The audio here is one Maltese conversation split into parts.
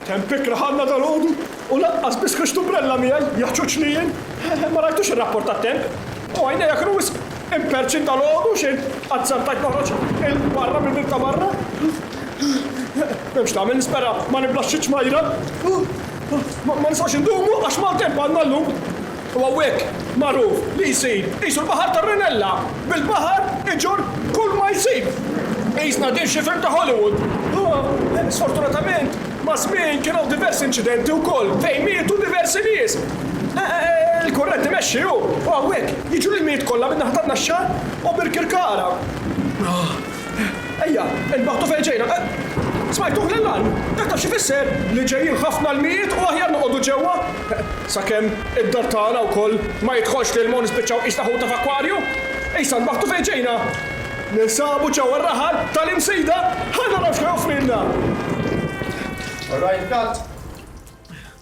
Kemm pikra ħadna dalgħodu u lanqas biss ħriġt umbrella miegħi, jaħġuġni jien! Ma rajtux ir-rapport tat-temp? U għajnejja kienu wisq imperċin dalgħodu xejn qatt sentejt noħroġ 'il barra mill-bieb ta' barra! Hemm x'tagħmel nispera ma niblax xi ċmajra! Ma nistgħux indumu għax maltemp għandna llum! U hawnhekk magħruf li jsir qisu l-baħar tar-rinella, bil-baħar iġorr kull ma jsib. Qisna din xi film ta' Hollywood. Imma sfortunatament maż-żmien kien hawn diversi inċidenti wkoll fejn mietu diversi nies. Il-kurrent imexxi hu, u hawnhekk jiġu l-ilmijiet kollha min-naħa tan-Naxxar u Birkirkara. Ejja, inbaħtu fejn ġejna. Smajtuh lil Ann? Dak taf x'ifisser? Li ġejjin ħafna lmijiet u aħjar noqogħdu ġewwa. Sakemm id-dar tagħna wkoll ma jidħolx l-ilma u nispiċċaw qisna ħuta f'akkwarju. Issa nbaħtu fejn ġejna. Ninsabu ġewwa r-raħal tal-Imsida. Ħa naraw x'ħa joffrilna. All right, cut.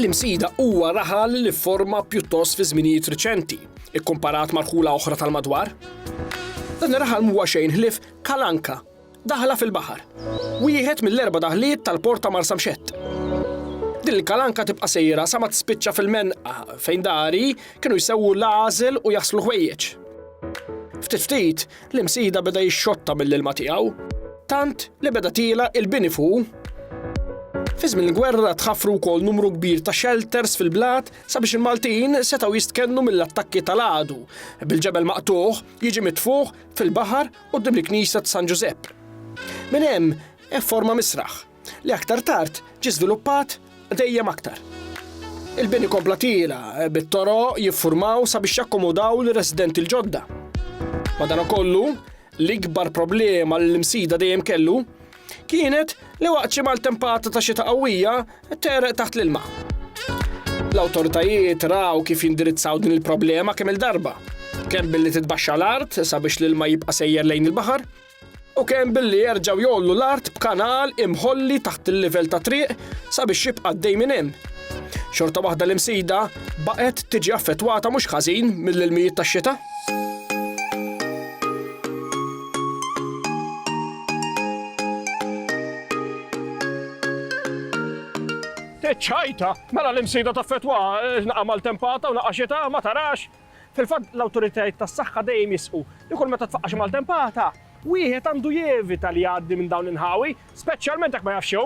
L-imsida huwa raħal li forma pjuttost fi żminijiet riċenti, ikkomparat mal-ħula oħra tal-madwar. Dan ir-raħal mhuwa xejn ħlif kalanka, Daħla fil-baħar. Wieħed mill-erba' daħliet tal-port ta' Marsamxett. Din il-kalanka tibqa' sejra sa ma tispiċċa fil-menqa fejn dari kienu jsewwu l-għażel u jaħslu ħwejjeġ. Ftit ftit, l-imsida beda jixxotta mill-ilma tiegħu, tant li beda tiela il-bini fuq Fi żmien il-gwerra tħaffru wkoll numru kbir ta' shelters fil-blat sabiex il-Maltin setgħu jistkennu mill-attakki tal-għadu. Bil-ġebel maqtuħ jiġi mitfuħ fil-baħar Quddiem il-knisja ta' San Ġużepp. Minn hemm efforma misraħ, li aktar tard ġie żviluppat dejjem aktar. Il-bini kompla tiela' bit-toroq jiffurmaw sabiex jakkomodaw lir-residenti l-ġodda. Madankollu, l-ikbar problema li l-Imsida dejjem kellu kienet li waqt xi maltempata ta' xita qawwija tgħereq taħt l-ilma. L-awtoritajiet raw kif jindirizzaw din il-problema kemm il-darba, kemm billi titbaxxa l-art sabiex l-ilma jibqa' sejjer lejn il-baħar, u kemm billi jerġgħu jgħollu l-art b'kanal imħolli taħt il-livell ta' triq sabiex jibqa' għaddej minn hemm. Xorta waħda l-imsida Baqgħet tiġi affettwata mhux ħażin mill-ilmijiet tax-xita. Ċajta, mela l-imsida ta' fetwa, eh, naqa' mal-tempata u naqa' xita, ma tarax. Fil-fatt l-awtoritajiet tas-saħħa dejjem jisqu li kull meta tfaqqax mal-tempata, wieħed għandu jevita li jgħaddi minn dawn l-inħawi, speċjalment jekk ma jafx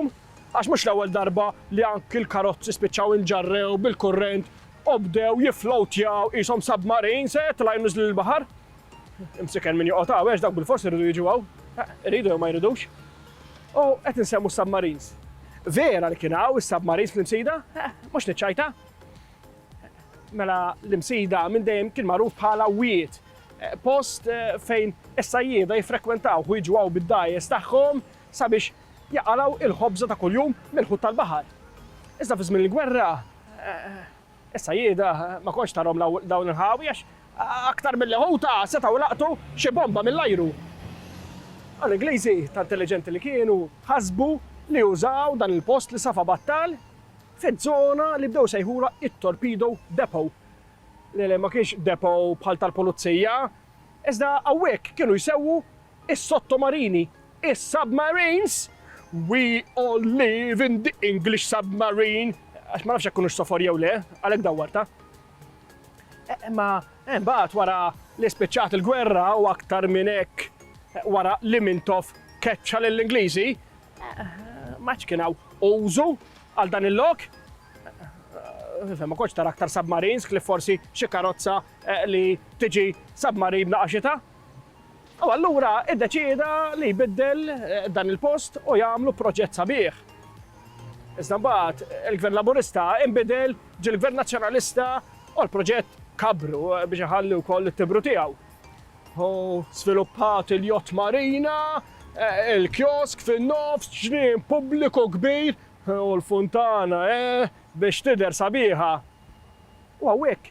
Għax mhux l-ewwel darba li anki l-karozzi spiċċaw inġarrew bil-kurrent u bdew jifflowtjaw qishom submarines, eh, jitilgħu jinniżlu l-baħar. Imsiken min joqgħod hawn, għax dawk bilfors iridu jiġu hawn. Eh, iridu jew ma jridux. U qed insemmu submarines. Vera li kien hawn is-submarines fl-imsida? Eh, mhux niċċajta. Mela l-imsida minn dejjem kien magħruf bħala wiet. Eh, post fejn is-sajjieda jiffrekwentaw u jiġu hawn bid-dajes tagħhom sabiex jaqalgħu l-ħobża ta' kuljum mill-ħut tal-baħar. Iżda fi żmien il-gwerra, is-sajjieda ma kontx tarhom dawn il-ħawi għax aktar milli ħuta setgħu laqtu xi bomba mill-ajru. Dawn l-Ingliżi, ta' intelliġenti li kienu, ħasbu li użaw dan il-post li safa battal fiż-żona li bdew isejħulha t-Torpedo Depot, li ma kienx depot bħal tal-pulizija, iżda hawnhekk kienu jsewwu is-sottomarini, is-submarines, We all live in the English submarine, għax ma nafx jekk kunux sofor jew le, għalhekk dawwartha. Imma eh, imbagħad wara li spiċċat il-gwerra u aktar minn hekk eh, wara li Mintoff keċċa lill-Ingliżi, eh, ma kien hawn użu għal dan il-lok. Ma koċ tara aktar submarines, kif forsi xi karozza li tiġi submarin naqaxita. U allura iddeċieda li jbiddel dan il-post u jagħmlu proġett sabiħ. Iżda mbagħad il-Gvern Laburista inbidel, ġie l-Gvern Nazzjonalista u l-proġett kabbru biex iħalli wkoll it-timbru tiegħu. Hu żviluppat il-Yacht Marina, il-kiosk fin-nofs, ġnien pubbliku kbir u l-funtana biex tidher sabiħa. U hawnhekk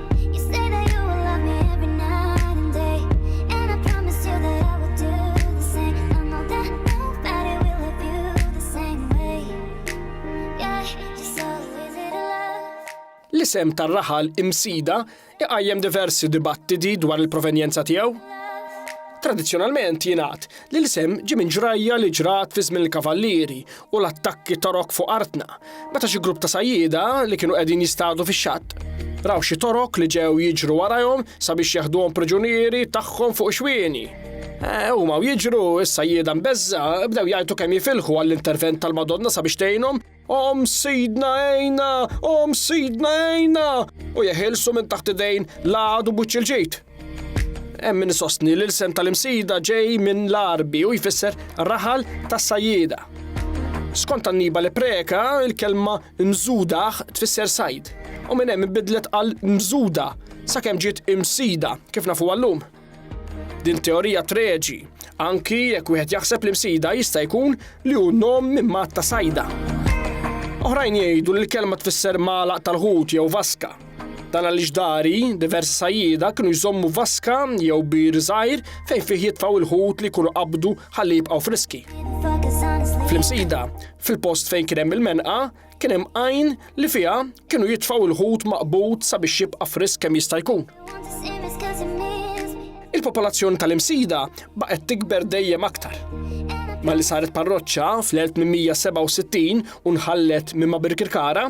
l-isem tar-raħal imsida iqajjem diversi dibattiti dwar il-provenjenza tiegħu. Tradizzjonalment jingħad li l-isem ġie minn ġrajja li ġrat fi żmien il-kavallieri u l-attakki Torok fuq artna, meta xi grupp ta' sajjieda li kienu qegħdin jistadu fix-xatt raw xi Torok li ġew jiġru warajhom sabiex jaħduhom priġunieri tagħhom fuq ixwieni. Eh, huma u jiġru is-sajjieda mbeżża bdew jgħidu kemm jifilħu għall-intervent tal-Madonna sabiex tgħinhom Om sidna ejna, om sidna ejna, u jeħilsu minn taħt idejn l-għadu buċċil ġid. Hemm min isostni li l-isem tal-Imsida ġej minn l-Għarbi u jfisser raħal tas-sajjieda. Skont Annibale Preca, il-kelma mżudaħ tfisser sajd u minn hemm inbidlet għal mżuda sakemm ġiet imsida kif nafu għallum. Din teorija treġi, anki jekk wieħed jaħseb li msida jista' jkun li hu nom minn mat ta' sajda. Oħrajn jgħidu li l-kelma tfisser magħlaq tal-ħut jew vaska. Dan għaliex dari, diversi sajjida kienu jżommu vaska jew bir żgħir fejn fih jitfaw il-ħut li jkunu qabdu ħalli jibqgħu friski. Fl-imsida, fil-post fejn kien hemm il-menqa, kien hemm għajn li fiha kienu jitfaw il-ħut maqbud sabiex jibqa' frisk kemm jista' jkun. Il-popolazzjoni tal-imsida baqgħet tikber dejjem aktar. Malli saret parroċċa fl-1867 u nħallet minn Birkirkara,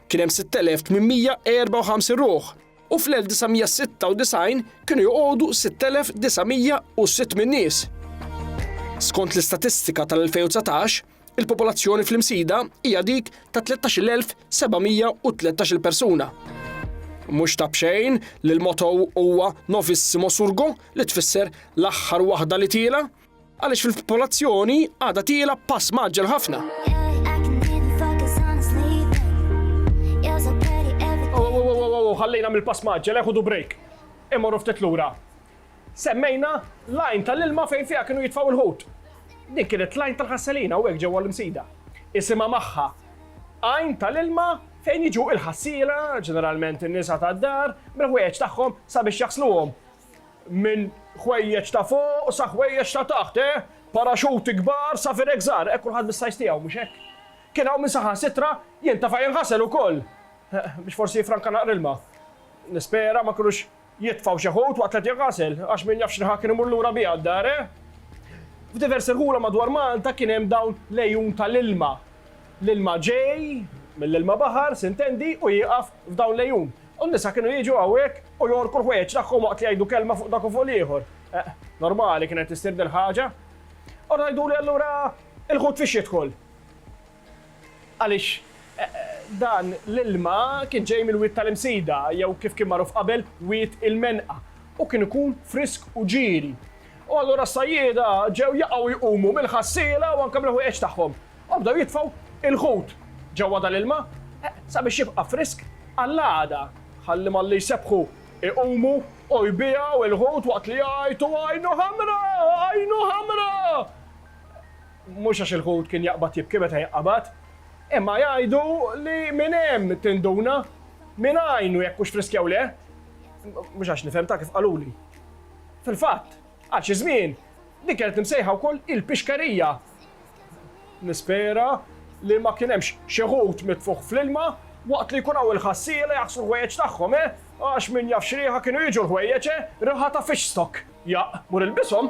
kien hemm 6,854 ruħ u fl-1996 kienu joqogħdu 6,906 minn nies. Skont l-istatistika tal-2019, il-popolazzjoni fl-Imsida hija dik ta' 13,713 persuna. Mhux ta' bxejn li l-motto huwa Novissimo Surgo li tfisser l-aħħar waħda li tiela, Għaliex fil-popolazzjoni għadha tiela b'pass mgħaġġel ħafna. ħallejna mill-pass maġġel eħudu break. Imorru ftit lura. Semmejna lajn tal-ilma fejn fiha kienu jitfaw il-ħut. Din kienet lajn tal-ħasselina u hekk ġewwa l-imsida. Isimha magħha. Għajn tal-ilma fejn jiġu il-ħassila, ġeneralment in-nisa tad-dar, bil-ħwejjeġ tagħhom sabiex jaħsluhom. Minn ħwejjeġ ta' fuq sa ħwejjeġ ta' taħt, eh? Paraxuti kbar sa firek żgħar, eh? Kulħadd bis-size tiegħu, mhux hekk? Kien hawn min saħansitra jintafa' jinħasel ukoll, biex forsi jiffranka naqra ilma. Nispera ma kinux jitfgħu xi ħut waqt li qed jinħasel, għax min jaf x'riħa kien imur lura biha d-dar, eh? F'diversi rħula madwar Malta kien hemm dawn l-għejun tal-ilma. L-ilma ġej mill-ilma baħar, s'intendi, u jieqaf f'dawn l-għejun. U n-nisa kienu jiġu hawnhekk u jgħorku l-ħwejjeġ tagħhom waqt li jgħidu kelma fuq dak u fuq l-ieħor. Eh, normali kienet issir dil-ħaġa. U ngħiduli allura il-ħut fiex jidħol. Għaliex eh, dan l-ilma kien ġej mill-wiet tal-imsida, jew kif kien magħruf qabel, wiet il-menqa, u kien ikun frisk u ġiri. U allura s-sajjieda ġew jaqgħu jqumu mill-ħassiela u anke mill-ħwejjeġ tagħhom. U bdew jitfgħu il-ħut ġewwa dal-ilma sabiex jibqa' frisk għall-għada. Ħalli malli jsebbħu jqumu u jbiegħu il-ħut waqt li jgħajtu għajnu ħamra! Għajnu ħamra! Mhux għax il-ħut kien jaqbad jibki meta jinqabad, imma jgħidu li minn hemm tinduna min għajnu jekk hux frisk jew le. Mhux għax nifhem ta' kif qaluli. Fil-fatt, għal xi żmien, din kienet imsejħa wkoll il-pixkerija. Nispera li ma kien hemmx xi ħut mitfugħ fl-ilma waqt li jkun hawn il-ħassiela jaħslu l-ħwejjeġ tagħhom, eh! Għax min jaf x'riħa kienu jiġu l-ħwejjeġ, eh! Riħa ta' fish stock! Jaqq! Mur ilbishom!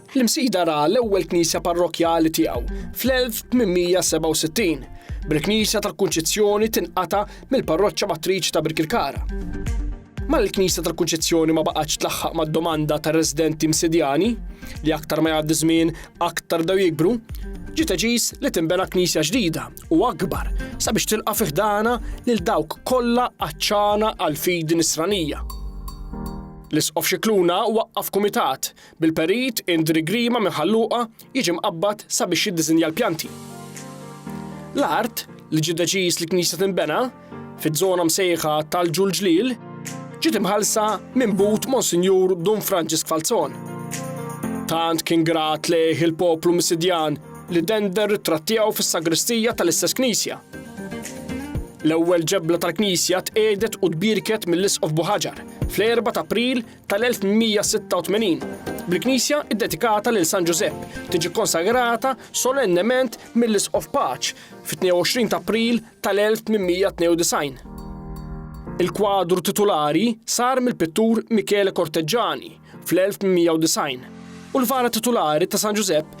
L-Imsida ra l-ewwel knisja parrokkjali tiegħu fl-1867, bil-Knisja tal-Kunċizzjoni tinqata' mill-parroċċa matriċi ta' Birkirkara. Malli l-Knisja tal-Kunċizzjoni ma baqgħetx tlaħħaq mad-domanda tar-residenti Msidjani, li aktar ma jgħaddi żmien aktar bdew jikbru, ġie deċiż li tinbena knisja ġdida u akbar sabiex tilqa' fi ħdanha lil dawk kollha għatxana għall-fidi Nisranija. L-Isqof Scicluna waqqaf kumitat Bil-perit, Indri Grima minn Ħal Luqa jiġi mqabbad sabiex jiddisinja l-pjanti. L-art, li ġie deċiż li knisja tinbena, fiż-żona msejħa tal-Ġulġliel, ġiet imħallsa minn but Monsinjur Dun Franġisk Falzon. Tant kien grat lejh il-poplu Misidjan li dender ritrat tiegħu fis-sagristija tal-istess knisja. L-ewwel ġebla tal-knisja tqiegħdet u tbierket mill-Isqof Buħaġar fl-4 ta' April tal-1186, bil-knisja ddedikata lil San Ġużepp tiġi kkonsagrata solennement mill-Isqof Paċ fit-22 ta' April tal-1892. Il-kwadru titulari sar mill-pittur Michele Corteggiani fl-1890 u l-vara titulari ta' San Ġużepp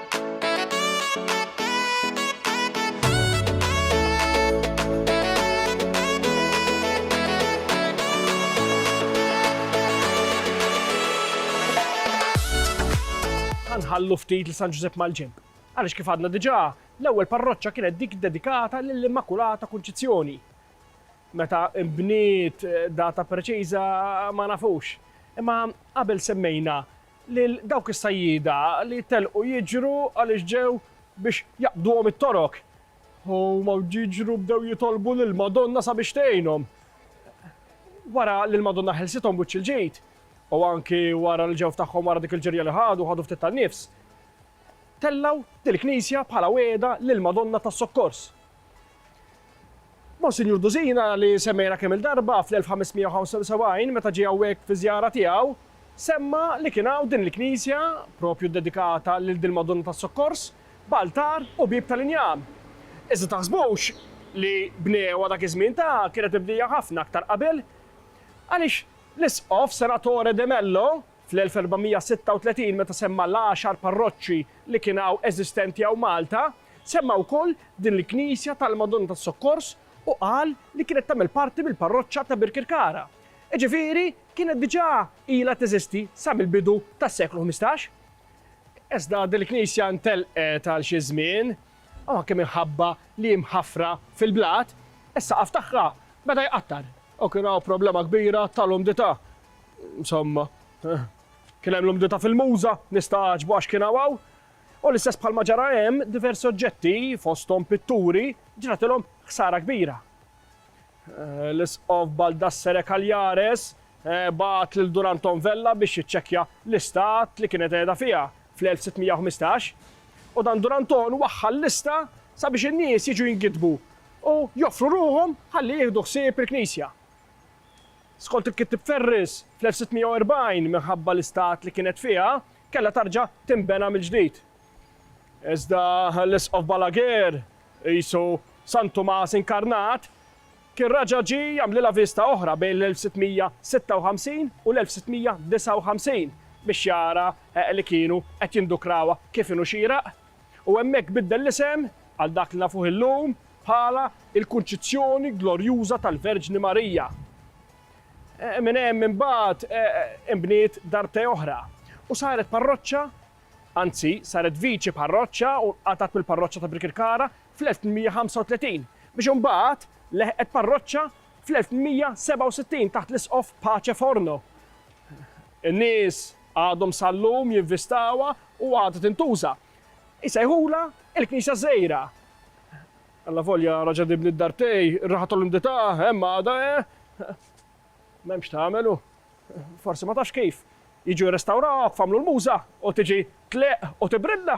Ħa nħallu ftit lil San Ġużepp mal-ġenb, għaliex kif għadna diġà, l-ewwel parroċċa kienet dik iddedikata lill-Immakulata Kunċizzjoni. Meta nbniet, data preċiża ma nafux. Imma qabel semmejna lil dawk is-sajjieda li telqu jiġru għaliex ġew biex jaqbduhom it-torok. Huma jiġru bdew jitolbu lill-Madonna sabiex tgħinhom. Wara li l-Madonna ħelsithom wiċċ il-ġid, u anki wara li ġew f'tagħhom wara dik il-ġirja li ħadu, ħadu ftit tan-nifs, tellgħu dil-knisja bħala wegħda lill-Madonna tas-Sokkors. Monsinjur Dusina, li semmejna kemm-il darba fl-1575 meta ġie hawnhekk fi żjara tiegħu, semma li kien hawn din il-knisja, propju ddedikata lil dil-Madonna tas-Sokkors, b'altar u bieb tal-injam. Iżda taħsbux li bnewha dak iż-żmien ta' kienet mibnija ħafna aktar qabel, għaliex l-Isqof Senatore de Mello, Fl-1436 meta semma l-għaxar parroċċi li kien hawn eżistenti hawn Malta, semma wkoll din il-knisja tal-Madonna tas-Sokkors u qal li kienet tagħmel parti mill-parroċċa ta' Birkirkara. Iġifieri kienet diġà ilha teżisti sa mill-bidu tas-seklu ħmistax. Iżda din il-knisja ntelqet għal xi żmien, anke minħabba li hi mħaffra fil-blat, is-saqaf tagħha beda jqattar u kien hawn problema kbira tal-umdità. Insomma, kien hemm l-umdità fil-Muża, nista' għaġbu għax kien hawn hawn, u l-istess bħalma ġara hemm, diversi oġġetti, fosthom pitturi, ġratilhom ħsara kbira. L-Isqof Baldassere Cagliares bagħat lil Dun Anton Vella biex jiċċekkja l-istat li kienet qiegħda fiha fl-1615, u dan Dun Anton waħħal lista sabiex in-nies jiġu jingiddbu u joffru ruħhom ħalli jieħdu ħsieb il-knisja. Skont il-kittieb Ferris, fl-1640, minħabba l-istat li kienet fiha, kellha tarġa' tinbena mill-ġdid. Iżda l-Isqof Balaguer, qisu San Tumas inkarnat, kien raġa' ġie jagħmlilha viżta oħra bejn l-1656 u l-1659 biex jara li kienu qed jindukrawha kif inhu xieraq. u hemmhekk biddel l-isem, għal dak li nafuh illum, bħala l-Kunċizzjoni Glorjuża tal-Verġni Marija. Minn hemm imbagħad inbniet dar te oħra u saret parroċċa, anzi saret viċi parroċċa u nqatgħet mill-parroċċa ta' Birkirkara fl-1835, biex imbagħad leħqet parroċċa fl-1867 taħt l-Isqof Pace Forno. In-nies Għadhom sal-lum jinvistawha u għadha tintuża. Isejħulha il-Knisja Żgħira. Allavolja raġa' dibni d-dar tiegħi, ir-raħa tal-umdità hemm għadha he. M'hemm x'tagħmel u forsi ma tafx kif. Jiġu jirrestawrawha kif għamlu l-Muża u tiġi tleqq u tibrilla.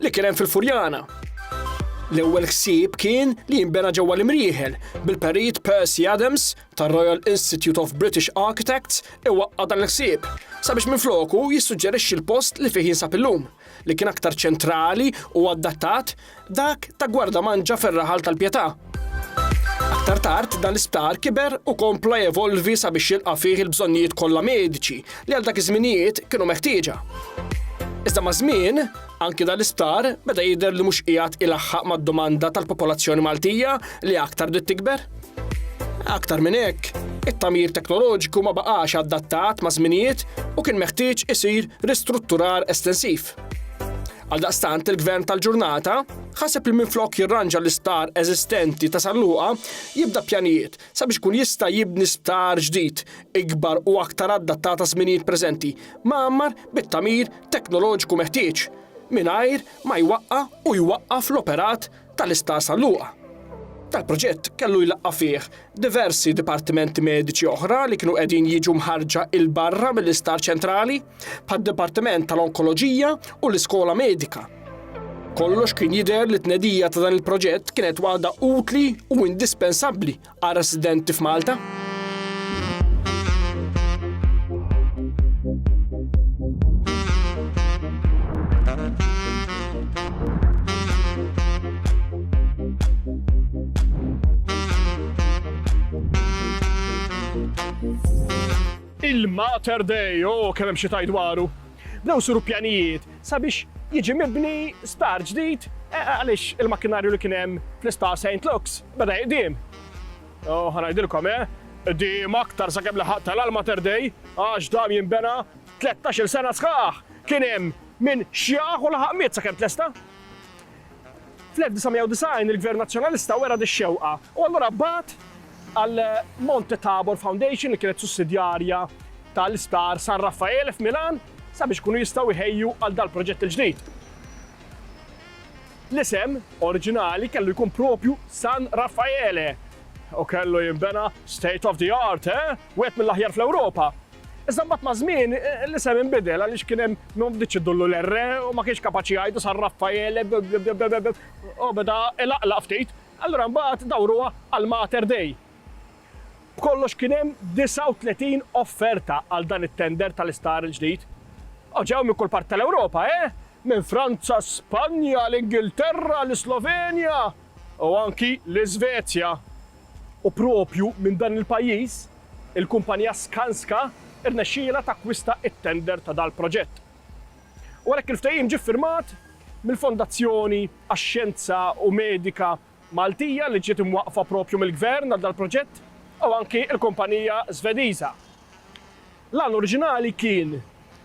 Li kien hemm fil-Furjana. L-ewwel ħsieb kien li jinbena ġewwa l-Imrieħel bil-Perit Percy Adams tar-Royal Institute of British Architects iwaqqa' dan il-ħsieb sabiex minfloku jissuġġerixxi l-post li fih jinsab illum, li kien aktar ċentrali u adattat, dak ta' Gwardamanġa fir-raħal tal-Pietà. Aktar tard dan l-isptar kiber u kompla jevolvi sabiex jilqa' fih il-bżonnijiet kollha mediċi li għal dak iż-żminijiet kienu meħtieġa. Iżda maż-żmien, Anki dal-isptar beda jidher li mhux qiegħed ilaħħaq mad-domanda tal-popolazzjoni Maltija li aktar bdiet tikber. Aktar minn hekk, it-tagħmir teknoloġiku ma baqax adattat ma' żminijiet u kien meħtieġ isir ristrutturar estensiv. Għaldaqstant il-Gvern tal-ġurnata ħaseb li minflok jirranġa l-isptar eżistenti ta' San Luqa jibda pjanijiet sabiex kun jista' jibni sptar ġdid ikbar u aktar adattat għaż-żminijiet preżenti, mgħammar bit-tagħmir teknoloġiku meħtieġ mingħajr ma jwaqqa' u jwaqqaf l-operat tal-Isptar San Luqa. Dal-proġett kellu jlaqqa' fih diversi dipartimenti mediċi oħra li kienu qegħdin jiġu mħarrġa 'l barra mill-Isptar Ċentrali, bħad-Dipartiment tal-Onkoloġija u l-Iskola Medika. Kollox kien jidher li t-tnedija ta' dan il-proġett kienet waħda utli u indispensabbli Għal residenti f'Malta. il-Mater Dei, oh, kellem xi tajd dwaru. Bnew siru pjanijiet sabiex jiġi mibni sptar ġdid għaliex il-makkinarju li kien hemm fl-isptar Saint Luke's beda jiqdiem. U ħa ngħidilkom eh, qdiem aktar sakemm laħaq tal-għal Mater Dei għax dam jinbena tlettax-il sena sħaħ. Kien hemm min xjaħ u laħaq miet sakemm tlesta. Fl-1990 il-Gvern Nazzjonalista wera dix-xewqa u allura bagħat għal Monte Tabor Foundation li kienet sussidjarja tal-isptar San Raffaele f'Milan sabiex ikunu jistgħu jħejju għal dal-proġett il-ġdid. L-isem oriġinali kellu jkun propju San Raffaele u kellu jinbena state of the art, eh? Wieħed mill-aħjar fl-Ewropa. Iżda mbagħad maż-żmien l-isem inbidel għaliex kien hemm min ma bdietx iddullu l-R u ma kienx kapaċi jgħidu sar Raffael u beda ilaqlaq ftit. Allura mbagħad dawruha għal Mater Dei. B'kollox kien hemm 39 offerta għal dan it-tender tal-isptar il-ġdid. U ġew minn kull parti tal-Ewropa, eh! Minn Franza, Spanja, l-Ingilterra, l-Islovenja. u anki l-Isvezja, u proprju minn dan il-pajjiż, il-kumpanija Skanska rnexxielha takkwista t-tender ta' dal-proġett. U għalhekk il-ftehim ġie ffirmat mill-Fondazzjoni għax-Xjenza u Medika Maltija li ġiet imwaqqfa proprju mill-Gvern għal dal-proġett u anki l-kumpanija Żvediża. L-għan oriġinali kien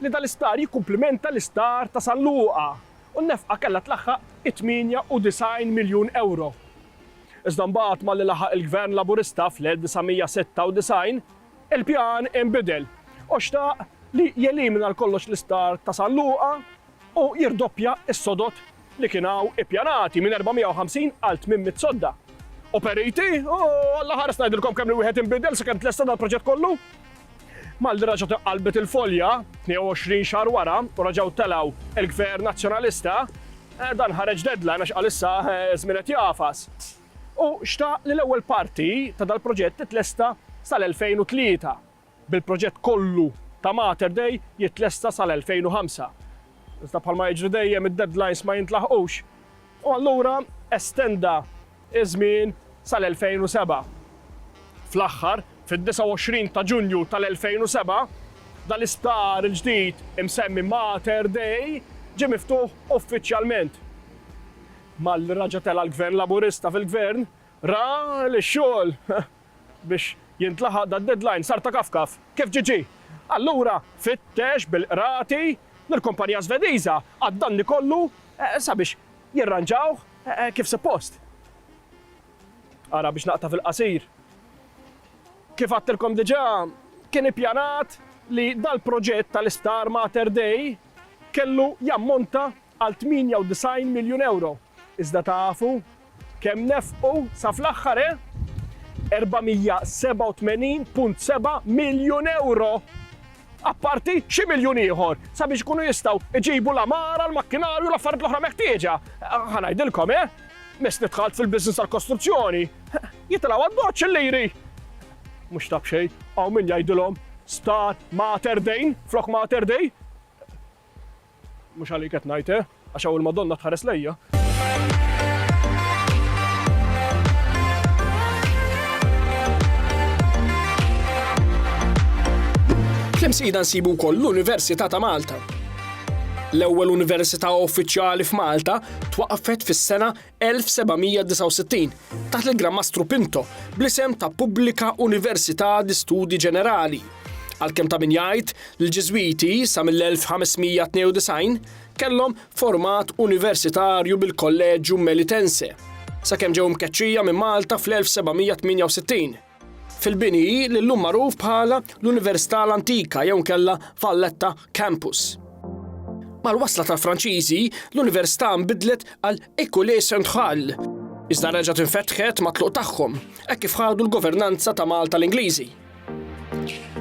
li dal-isptar jikkumplimenta l-isptar ta' San Luqa u n-nefqa kellha tlaħħaq it-98 miljun ewro. Iżda mbagħad malli laħaq il-Gvern Laburista fl-1996, il-pjan inbidel u xtaq li jelimina għal kollox l-isptar ta' San Luqa u jirdoppja s-sodod li kien hawn ippjanati minn 450 għal 800 sodda. U periti, u Alla ħares ngħidilkom kemm li wieħed inbidel sakemm tlesta dal-proġett kollu! Malli raġgħet iqqallbet il-folja, 22 xahar wara, u raġgħu telgħu l-Gvern Nazzjonalista, dan ħareġ deadline għax qal issa ż-żmien qed jagħfas. Hu xtaq li l-ewwel parti ta' dal-proġett titlesta sal-2003, bil-proġett kollu ta' Mater Dei jitlesta sal-2005. Iżda bħalma jiġri dejjem id-deadlines ma jintlaħqux. u allura estenda ż-żmien sal-2007. Fl-aħħar, fid-29 ta' Ġunju tal-2007, dal-isptar il-ġdid imsemmi Mater Dei ġie miftuħ uffiċjalment. Malli raġa' tela' l-Gvern Laburista fil-Gvern, ra li x-xogħol Biex jintlaħaq dad-deadline sar ta' kaf kaf, kif ġie ġie. Allura fittex bil-qrati lill-kumpanija Żvediża għad-danni kollu sabiex jirranġawh kif suppost. Ara biex naqta' fil-qasir. Kif għadtilkom diġà, kien ippjanat li dal-proġett tal-isptar Mater Dei kellu jammonta għal 98 miljun ewro. Iżda tafu kemm nefqu sa fl-aħħar, eh? 487.7 miljun ewro! Apparti xi miljun ieħor sabiex ikunu jistgħu jġibu l-għamara, l-makkinarju, l-affarijiet l-oħra meħtieġa. Ħa ngħidilkom, eh? Mess li dħalt fil-business tal-kostruzzjoni, jitilgħu għad-doċċ il-liri. Mhux ta' b'xejn, hawn min jgħidilhom Star Mater Dejn flok Mater Dej. Mhux għalik qed ngħid, eh? Għax hawn il-Madonna tħares lejja. Fl-imsida nsibu wkoll l-Università ta' Malta. L-ewwel università uffiċjali f'Malta twaqqfet fis-sena 1769 taħt il-Gran Mastru Pinto bl-isem ta' Pubblika Università di Studi Ġenerali. Għalkemm ta' min jgħid li l-Ġiżwiti sa mill-1592 kellhom format universitarju bil-Kolleġġju Melitense sakemm ġew mkeċċija minn Malta fl-1768. fil-bini li llum magħruf bħala l-Università l-Antika jew nkella Valletta Campus. Mal-wasla tal-Franċiżi, l-Università nbidlet għal École Centrale, iżda reġgħet infetħet matluq tagħhom, hekk kif ħadu l-governanza ta' Malta l-Ingliżi.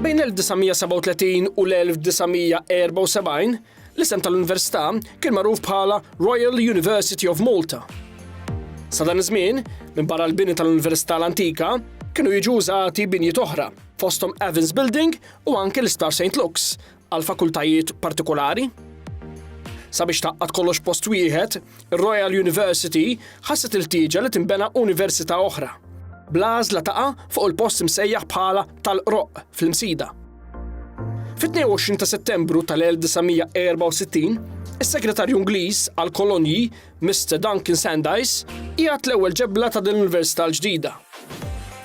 Bejn 1937 u l-1974, L-isem tal-Università kien magħruf bħala Royal University of Malta. Sa dan iż-żmien, minn barra l-bini tal-Università l-antika, kienu jiġu użati binjiet oħra, fosthom Evans Building u anke l-Isptar St. Luke's, għal fakultajiet partikolari. Sabiex taqqad kollox post wieħed, Ir-Royal University ħasset il-ħtieġa li tinbena università oħra, bl-għażla taqa' fuq il-post imsejjaħ bħala tal-Qroqq fl-Imsida. Fit-22 ta' Settembru tal-1964, is-Segretarju Ingliż għall-Kolonji, Mr. Duncan Sandys, qiegħed l-ewwel ġebla ta' din l-università l-ġdida.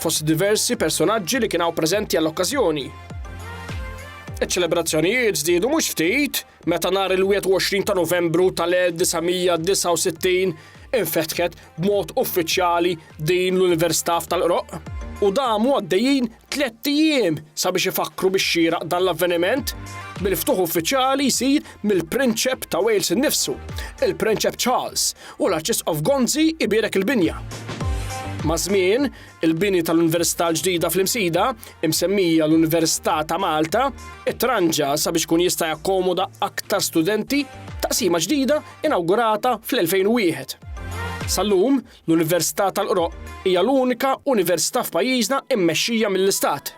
Fost diversi personaġġi li kien hawn preżenti għall-okkażjoni. Iċ-ċelebrazzjonijiet żdiedu mhux ftit meta nhar il-21 ta' Novembru tal-1969 infetħet b'mod uffiċjali din l-Università f'Tal-Qroqq u damu għaddejjin tlett ijiem sabiex ifakkru bix-xieraq dan l-avveniment bil-ftuħ uffiċjali jsir mill-Prinċep ta' Wales innifsu, il-Prinċep Charles, u l-Arċisqof Gonzi jbierek il-binja. Maż-żmien, il-bini tal-Università l-ġdida fl-Imsida, imsemmija l-Università ta' Malta, it-tranġa sabiex kun jista' jakkomoda aktar studenti, taqsima ġdida inawgurata fl-2001. Sal-lum, l-Università tal-Qroq hija l-unika università f'pajjiżna immexxija mill-Istat.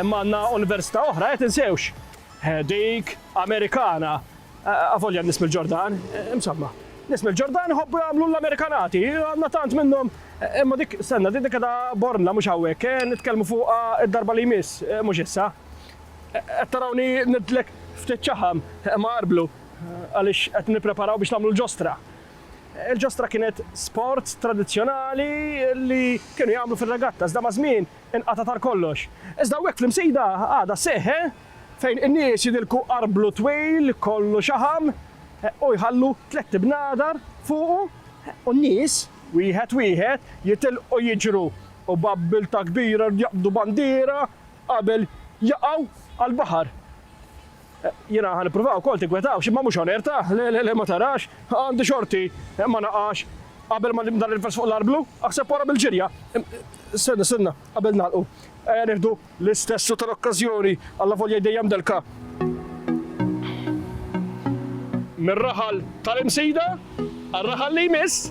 Imma għandna università oħra, eh, tinsewx, dik Amerikana, avolja n-nies mill-Ġordan, insomma, nies mill-Ġordan iħobbu jagħmlu l-Amerikanati, għandna tant minnhom, imma dik, stenna, din qiegħda Bormla mhux hawnhekk, eh, nitkellmu fuqha d-darba li jmiss, mhux issa. Qed tarawni ngħidlek ftit ċaħam, imma għarblu, għaliex qed nippreparaw biex nagħmlu l-ġostra. Il-ġostra kienet sport tradizzjonali li kienu jagħmlu fir-regatta, iżda maż-żmien Il-qatgħa tar kollox. Iżda hawnhekk fl-Imsida għadha sseħħ, eh? Fejn in-nies jidilku arblu twil kollu xaħam u jħallu tlett ibnadar fuqu u n-nies, wieħed wieħed, jitilqu jiġru u b'abbiltà kbira jaqbdu bandiera qabel jaqgħu għall-baħar. Jiena ħa nipprova wkoll tinkwetawx imma mhux hawn Erta, le le le ma tarax, għandi xorti ma naqax qabel ma dan il-vers fuq l-arblu, aħseb wara bil-ġirja. Stenna stenna, qabel nagħlqu, ejja nieħdu l-istessu tal-okkażjoni allavolja hi dejjem delka. Mir-raħal tal-Imsida għar-raħal li jmiss.